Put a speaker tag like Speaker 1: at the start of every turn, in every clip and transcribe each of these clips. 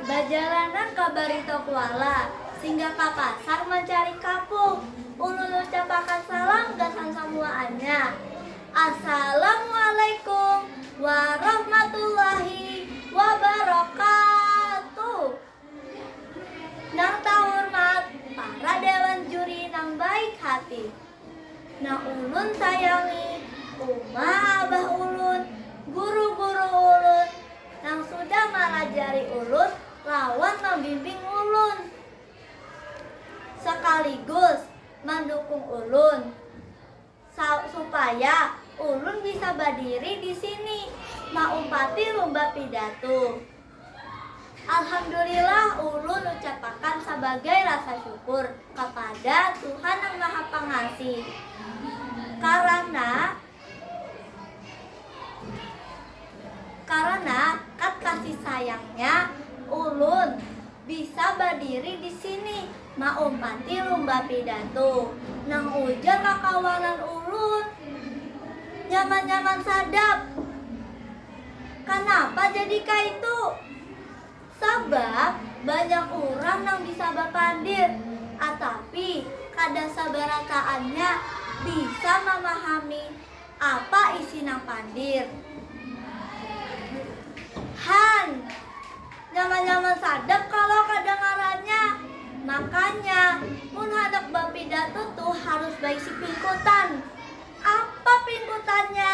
Speaker 1: Bajalanan ka Barito Kuala, singgah ka pasar mancari kapuk, ulun ucapakan salam gasan samuaannya. Assalamualaikum warahmatullahi wabarakatuh. Nang tahurmat para dewan juri nang baik hati, nang ulun sayangi, uma abah ulun, guru-guru ulun, Nang sudah malajari ulun lawan mambimbing ulun. Sakaligus mandukung ulun sa supaya ulun bisa badiri di sini maumpati lumba pidatu. Alhamdulillah ulun ucapakan sabagai rasa syukur kapada Tuhan Nang Maha Pangasih karana Karana kat kasih sayangnya, ulun bisa badiri di sini maumpati lumba pidatu nang ujar kakawanan ulun. Nyaman-nyaman sadap. Kanapa jadi kaitu? Sabab, banyak urang nang bisa bapandir, atapi kada sabarataannya bisa mamahami apa isi nang pandir. Han, nyaman-nyaman sadap kalo kadangarannya. Makanya, mun handak bapidatu tu harus baisi pingkutan. Apa pingkutannya?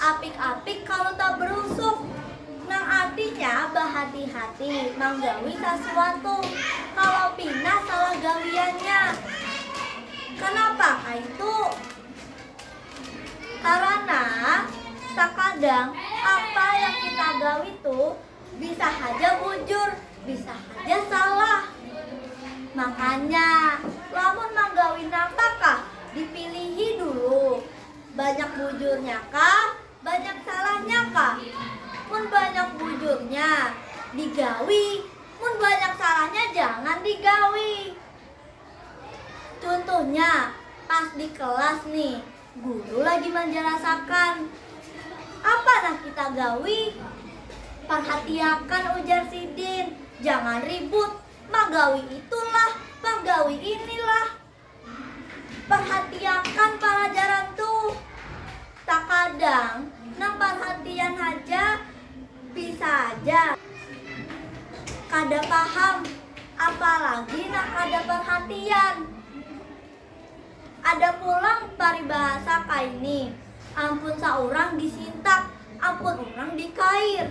Speaker 1: Apik-apik kalu tabrusuk, nang artinya bahati-hati manggawi sasuatu kalu pina salah gawiannya. Kanapa kaitu? Karana sakadang apa yang kita gawi tu bisa haja bujur, bisa haja salah. Makanya lamun manggawi napa kah dipilihi dulu Banyak bujurnya kah, banyak salahnya kah? Mun banyak bujurnya, digawi, mun banyak salahnya jangan digawi. Cuntuhnya, pas di kelas ni, guru lagi manjalasakan. Apa nah kita gawi? Parhatiakan ujar sidin, jangan ribut, magawi itulah, magawi inilah. Parhatiakan palajaran tuh. Takadang nang parhatian haja bisa haja kada paham apalagi nang kada parhatian. Ada pulang paribahasa kaini, ampun saurang disintak, ampun urang dikair.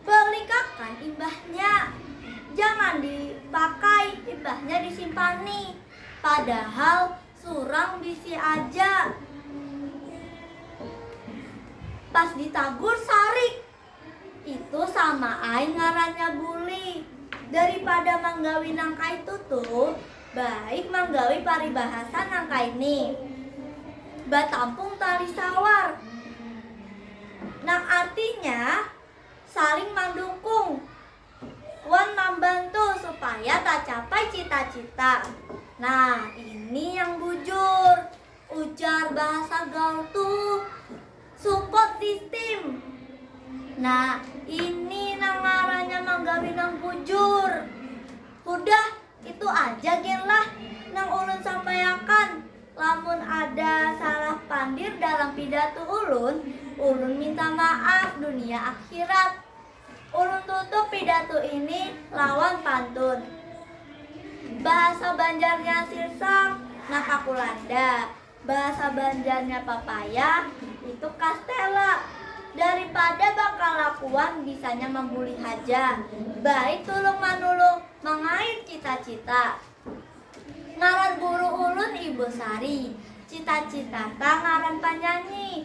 Speaker 1: Pelikakan imbahnya jangan di pakai imbahnya di simpani padahal surang bisi aja pas di tagur sarik itu sama ai ngarannya bully daripada manggawi nang kaitu tuh Baik manggawi paribahasa nang kaini. Batampung tali sawar. Nang artinya saling mandukung wan mambantu supaya tacapai cita-cita. Nah, ini yang bujur, ujar bahasa gaul tuh. Support system. Nah, ini nang ngarannya manggawi nang bujur. Hudah, Itu aja gin lah nang ulun sampaiakan, lamun ada salah pandir dalam pidatu ulun, ulun minta maaf dunia akhirat. Ulun tutup pidatu ini lawan pantun. Bahasa Banjarnya sirsak, nakakulanda. Bahasa Banjarnya papaya itu kastela. Daripada bakalakuan bisanya mambuli haja, baik tulung manulung mangait cita-cita. Ngaran guru ulun Ibu Sari, cita-citata ngaran panyanyi.